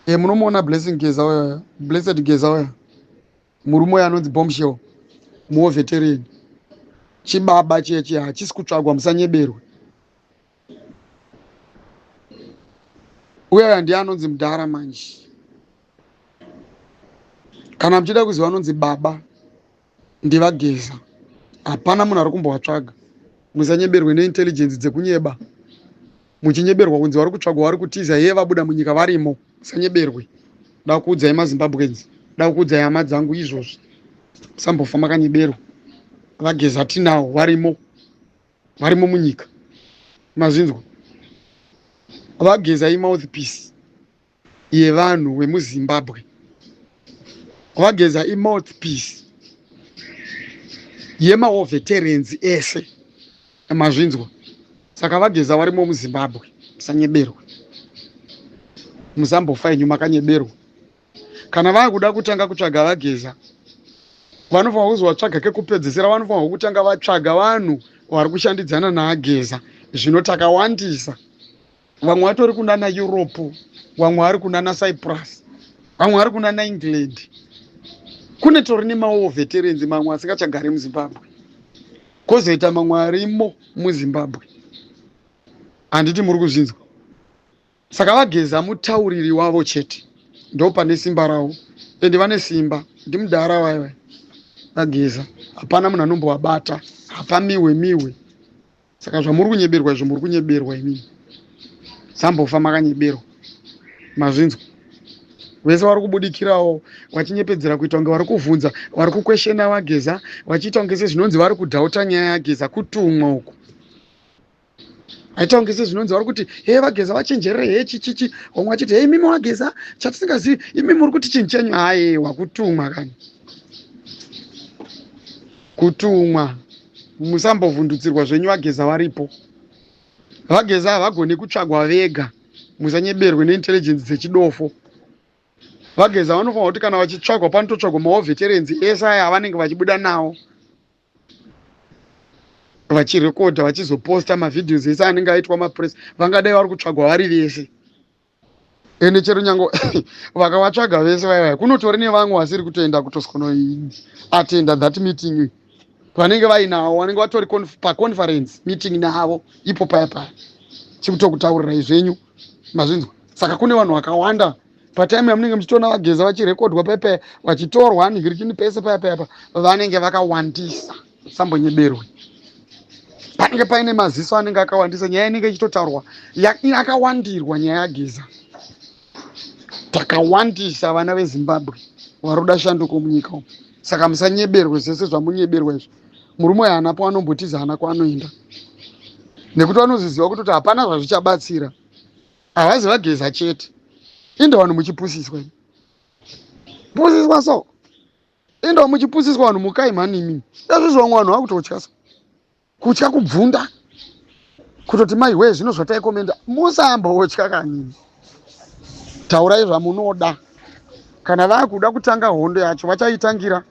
e munomuona blessing geza uya blessed geza uya murume uya anonzi bombshell muoveterian chibaba chechi hachisi kutsvagwa musanyeberwe uya uya ndiye anonzi mudhara manje kana muchida kuziva anonzi baba ndivageza hapana munhu ari kumbovatsvaga musanyeberwe neintelligence dzekunyeba muchinyeberwa kunzi vari kutsvagwa vari kutiza heye vabuda munyika varimo musanyeberwe da kuudzai mazimbabweans da kuudzai hama dzangu izvozvi musambofa makanyeberwa vageza tinawo varimo varimo munyika mazvinzwa vageza imouthpiece yevanhu wemuzimbabwe kwageza imouthpiece yemaoveterenzi ese mazvinzwa saka vageza varimo muzimbabwe musanyeberwe musambofa yenyu makanyeberwa kana vakuda kutanga kutsvaga vageza vanofanira kuzi vatsvaga kekupedzesera vanofanirwa kutanga vatsvaga vanhu vari kushandidzana naageza zvino takawandisa vamwe vatori kunana europe vamwe vari kunana cyprus vamwe vari kunana england kune tori nemawo veterans mamwe asingachagari muzimbabwe kozoita mamwe arimo muzimbabwe handiti muri kuzvinzwa saka vageza mutauriri wavo chete ndo pane simba ravo ende vane simba ndimudhara vaiva vageza hapana munhu anombovabata hapamiwe miwe, miwe. saka zvamuri kunyeberwa izvo muri kunyeberwa inini sambofa makanyeberwa mazvinzwa vese vari kubudikirawo vachinyepedzera kuita kunge vari kuvhunza vari kukweshena vageza vachiita kunge sezvinonzi vari kudhauta nyaya yageza kutumwa uku aita kunge sezvinonzi vari kuti hee vageza vachenjerere hee chichichi vamwe vachiti hee imimi wageza chatisingazivi imimi uri kuti chinhu chenyu hayewa kutumwa kani kutumwa musambovhundutsirwa zvenyu vageza varipo vageza havagone kutsvagwa vega musanyeberwe neintelligence dzechidofo vageza vanofanira kuti kana vachitsvagwa panototsvagwa maoveterenzi ese aya avanenge vachibuda nawo vachirekodha vachizoposta mavhidhios ese anenge aitwa mapress vangadai vari kutsvagwa vari vese ende chero nyange vakavatsvaga vese vaivai kunotori nevamwe vasiri kutoenda kutosikonoatenda that meeting vanenge vainawo vanenge vatori paconference meeting navo ipo paya paya chikutokutaurirai zvenyu mazvinzwa saka kune vanhu vakawanda patime yamunenge muchitoona vageza vachirekodwa paya paya vachitorwa nihirikini pese paya paya pa vanenge vakawandisa sambonyeberwe panenge paine maziso anenge akawandisa nyaya inenge ichitotaurwa akawandirwa nyaya yageza takawandisa vana vezimbabwe varoda shanduko munyika umu saka musanyeberwe zvese zvamunyeberwa izvo murume uyo haana paanombotiza haana kwaanoenda nekuti vanozviziva kutoti hapana zvazvichabatsira havazi vageza chete inde vanhu muchipusiswa pusiswa so Enda muchipusiswa vanhu mukai mhani imimi. Ezvizvo vamwe vanhu vakutotya so. Kutya kubvunda. Kutoti mai wee zvino zvatai komenda. Musamba wotya kanini. Taurai zvamunoda. Kana vakuda kutanga hondo yacho vachaitangira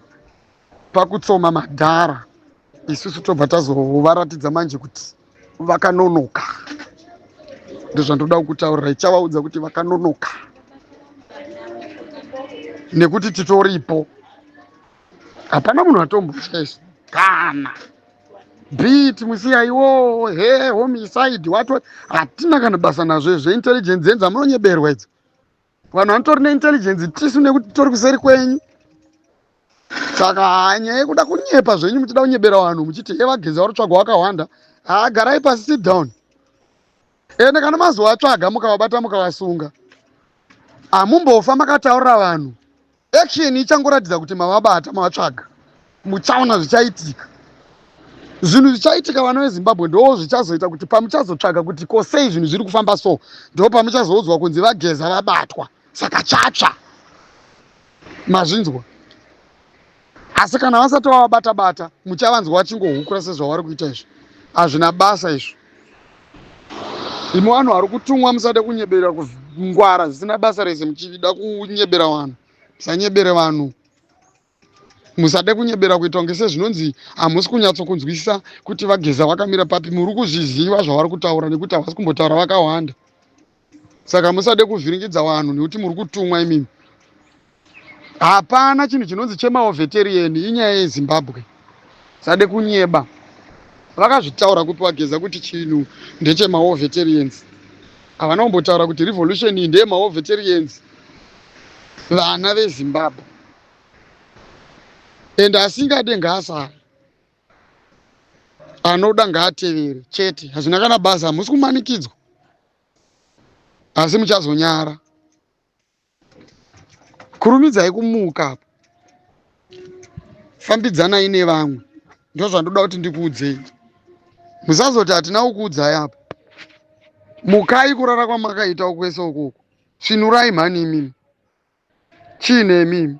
pakutsoma madhara. Isusu tobva tazovaratidza manje kuti. vakanonoka ndozvandoda kukutaurira ichavaudza kuti vakanonoka nekuti titoripo hapana munhu atombotya isu kana beat musiyaiwo he homicide wato hatina kana basa nazvo izvo intelligence yenza munonyeberwa idzo vanhu vanotori neintelligency tisu nekuti tori kuseri kwenyu saka hanyaya yekuda kunyepa zvenyu muchida kunyebera vanhu muchiti evagezi vari tsvaga wakawanda haagarai pasi sit down ende kana mazovatsvaga mukavabata mukavasunga hamumbofa makataurira vanhu Action ichangoratidza kuti mavabata mavatsvaga muchaona zvichaitika zvinhu zvichaitika vana vezimbabwe ndoo zvichazoita kuti pamuchazotsvaga kuti ko sei zvinhu zviri kufamba so ndoo pamuchazoudzwa kunzi vageza vabatwa saka chatsva mazvinzwa asi kana vasati vavabatabata muchavanzwa vachingohukura sezvavari kuita izvi hazvina basa izvo Imi vanhu vari kutumwa musade kunyebera kungwara zvisina basa rese muchida kunyebera vanhu musanyebere vanhu musade kunyebera kuita kunge sezvinonzi hamusi kunyatsokunzwisisa kuti vageza vakamira papi muri kuzviziva zvavari kutaura nekuti havasi kumbotaura vakawanda saka musade kuvhiringidza vanhu nekuti muri kutumwa imimi hapana chinhu chinonzi chemaoveterian inyaya yezimbabwe sade kunyeba vakazvitaura kupi wageza kuti chinhu ndechemaoveterians havana kumbotaura kuti revolution iyi ndeyemaoveterians vana vezimbabwe and asingade ngaasara anoda ngaatevere chete hazvina kana basa hamusi kumanikidzwa asi muchazonyara kurumidzai kumuka apo fambidzanai nevamwe ndozvandoda kuti ndikuudzei musazoti hatina kukuudzai apo mukai kurara kwamakaita ukwese ukoko svinurai mhani imimi chiine imimi